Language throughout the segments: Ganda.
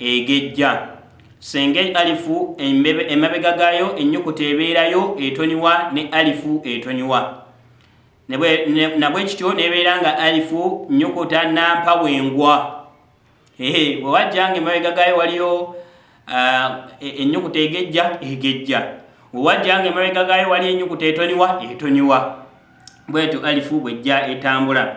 egejja senga alifu emabega gayo enyukuta ebeerayo etoniwa ne alifu etoniwa nabwekityo nebeera nga alifu nyukuta nampa wengwa wewajjanga emabega gayo waliyo enyukuta egejja egejja wewajjanga emabega gayo waliyo enyukuta etoniwa etoniwa bwetyo alifu bwejja etambula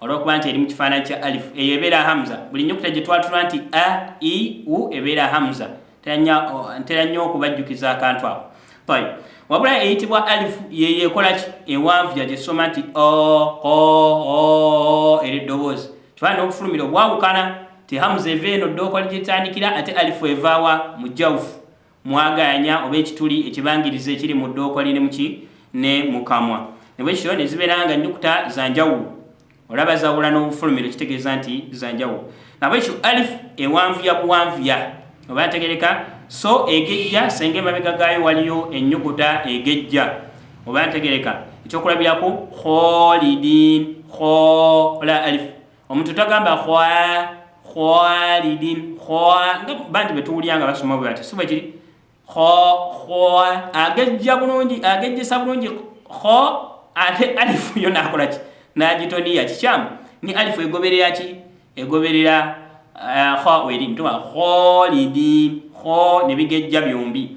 olwokuba nti eri mu kifaananyi kya alifu eyo ebeera hamza buli nyukuta gye twatulwa nti a i u ebeera hamza ntera nnyo okubajjukiza akantu ako taib wabula eyitibwa alifu yeyo ekolaki ewanvu yagyesoma nti era eddoboozi kifaana n'okufulumira obwawukana ti hamza eva eno ddookoli gyetandikira ate alifu evaawa mu jawufu mwagaanya oba ekituli ekibangiriza ekiri mu ddookwa lye ne mu ki ne mu kamwa ne bwe kityo ne zibeera nga nnyukuta za njawulo olaba zawula n'obufulumiro kitegeeza nti za njawulo nabwekyo alif ewanvuya buwanvuya oba ntegereka so egejja senga emabega gaayo waliyo ennyukuta egejja oba ntegereka ekyokulabirako kholidin khola alif omuntu tagamba khwa khwalidin khwa nga bantu betuwulira nga basoma bwe bati siba kiri kho khwa agejja bulungi agejjesa bulungi kho ate alifu yo nakola ki nagitoniya kikyamu ni alifu egoberera ki egoberera eh, kho weri ntuma kholidin kho ne bigejja byombi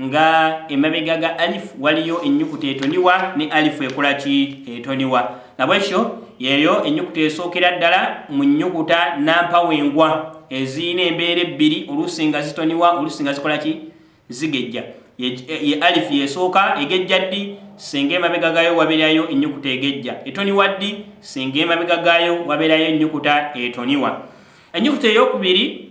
nga emabega ga alif waliyo enyukuta etoniwa ne alifu ekola ki etoniwa nabwekyo yeyo enyukuta esookera ddala mu nyukuta nampawengwa eziyina embeera ebbiri oluusi nga zitoniwa oluusi nga zikola ki zigejja ye alifu yesooka egejja ddi singa emabega gayo waberayo enyukuta egejja etoniwa ddi singa emabega gayo waberayo enyukuta etoniwa enyukuta eyokubiri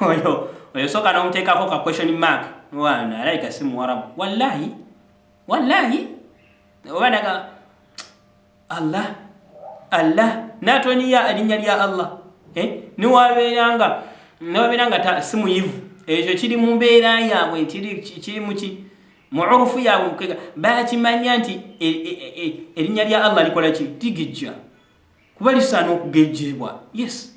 oyo oyo soka nomutekako ka question mark mwana alaika si muwarabu wallahi wallahi obanaga allah allah natoniya alinya lya allah eh? niwabeeranga niwabeeranga si muyivu ekyo kiri mu mbeera yaabwe nti kiri muki mu urufu yaabwe mukega bakimanya nti e, e, e, erinnya lya allah likola ki ligejja kuba lisaana okugejjebwa yes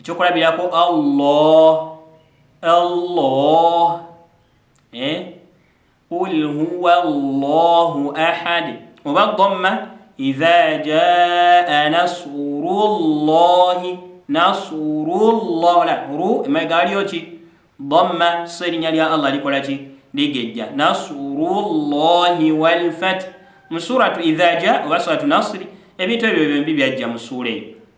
ekyokulabirako allah allah eh? qul huwa llahu ahad oba gomma idha jaa nasuru llahi nasuru llah la ru emabega waliyo ki gomma so erinnya lya allah likola ki ligejja nasuru llahi walfath mu suratu idha jaa oba suratu nasiri ebintu ebyo byombi byajja mu suula eyo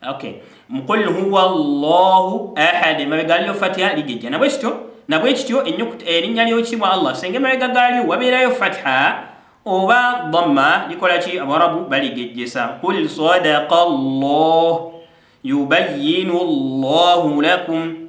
Okay. Mukul huwa Allahu ahad. Mabega aliyo fatiha ligejja. Nabwe kityo, nabwe kityo ennyukuta erinnya ly'ekitibwa Allah. Senge mabega galiyo wabeerayo fatiha oba dhamma likola ki Abarabu baligejjesa. Qul sadaqa Allah yubayyinu Allahu lakum.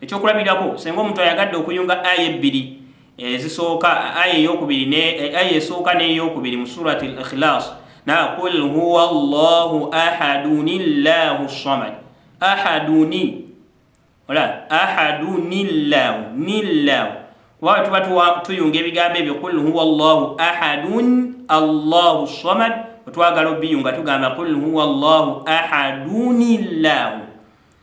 Ekyokulabirako, singa omuntu ayagadde okuyunga aya ebbiri ezisooka, aya eyokubiri ne aya esooka n'eyokubiri mu surati al-Ikhlas, na qul huwa Allahu ahaduni llahu samad ahaduni ola ahaduni llahu ni llahu kuba tuba tuyunga ebigambo ebyo qul huwa llahu ahadun allahu samad wetwagala obiyunga tugamba qul huwa llahu ahaduni llahu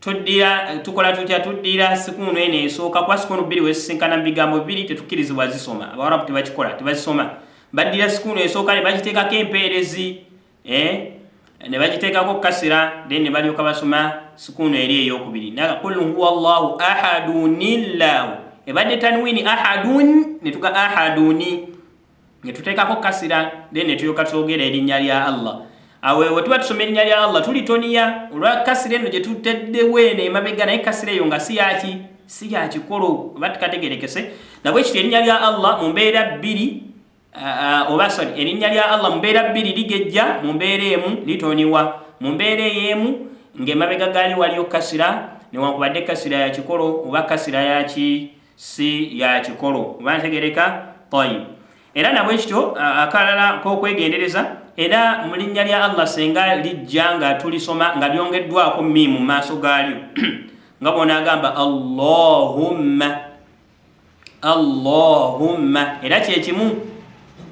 Tuddira tukola tutya tuddira sikuunu eno esooka kuba sikuunu bbiri wezisinkana mu bigambo bibiri tetukkirizibwa zisoma abawarabu tebakikola tebazisoma baddira sikuunu esooka ne bagiteekako empeerezi eh? ne bagiteekako kasira then ne balyoka basoma sikuunu eri eyokubiri naga kul huwa llahu ahadunillahu ebadde tanwini ahadun ne tuga ahaduni netuteekako kasira then netulyoka twogera erinnya lya allah awo ewe tuba tusoma erinnya lya allah tulitoniya olwa kasira eno gye tuteddewo eno emabega naye kasira eyo nga si yaki si yakikolo oba tukategerekese nabwe kiti erinnya lya allah mu mbeera bbiri oba sorry erinnya lya allah mu mbeera bbiri ligejja mu mbeera emu litoniwa mu mbeera ey'emu ng'emabega gaali waliyo kasira newankubadde kasira yakikolo oba kasira yaki si ya kikolo oba ntegereka tayib era nabwe kityo akalala kokwegendereza era mu linnya lya allah senga lijja nga tulisoma nga lyongeddwako mi mu maaso gaalyo nga bona agamba allahumma allahumma era kyekimu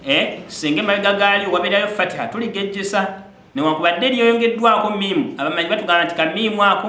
eh, senga emabega gaalyo wabeerayo fatiha tuligejjesa newankubadde lyoyongeddwako miimu abamanyi batugamba nti kamiimu ako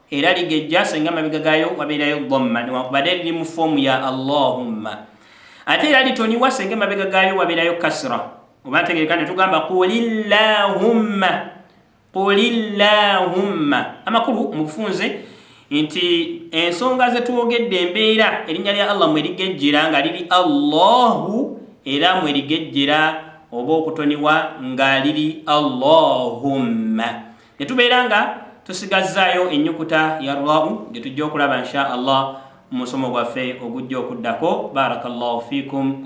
era ligejja so nga mabega gayo wabeerayo dhamma newankubadde liri mu foomu ya allahumma ate era litoniwa senga mabega gayo wabeerayo kasra oba ntegereka ne tugamba qulillahumma qulillahumma amakulu mu bufunze nti ensonga zetwogedde embeera erinnya lya allah mwerigejjera nga liri allahu era mwerigejjera oba okutoniwa nga liri allahumma ne tubeera nga tusigazzaayo ennyukuta ya rwau gye tujja okulaba insha allah mu musomo gwaffe ogujja okuddako barakallahu fikum